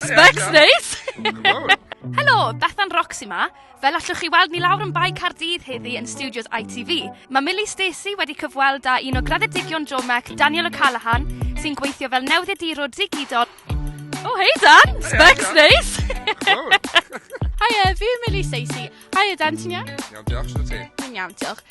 Specs neis! Helo, Bethan Roxy ma. Fel allwch chi weld, ni lawr yn Bae Cardydd heddi yn studios ITV. Mae Millie Stacey wedi cyfweld â un o graddedigion Jomec, Daniel O'Callaghan, sy'n gweithio fel newyddiadurwr digidol. O, oh, hei Dan! Specs neis! Hiya, fi yw Millie Stacey. Hiya Dan, ti'n iawn? Iawn, diolch, ti'n ti? Dwi'n iawn, diolch.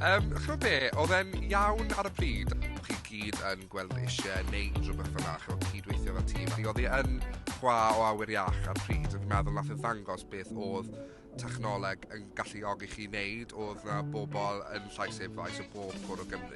Yym, ch'mod be', odd e'n iawn ar y pryd, o' chi gyd yn gweld eisie neud rwbeth fel 'na, ch'mod cyd-weithio fel tîm, felly odd 'i yn chwa o awyr iach ar y pryd, a fi'n meddwl nath e ddangos beth odd technoleg yn galluogi chi neud, odd 'na bobol yn Llais Efrau, so bob cwr o Gymru,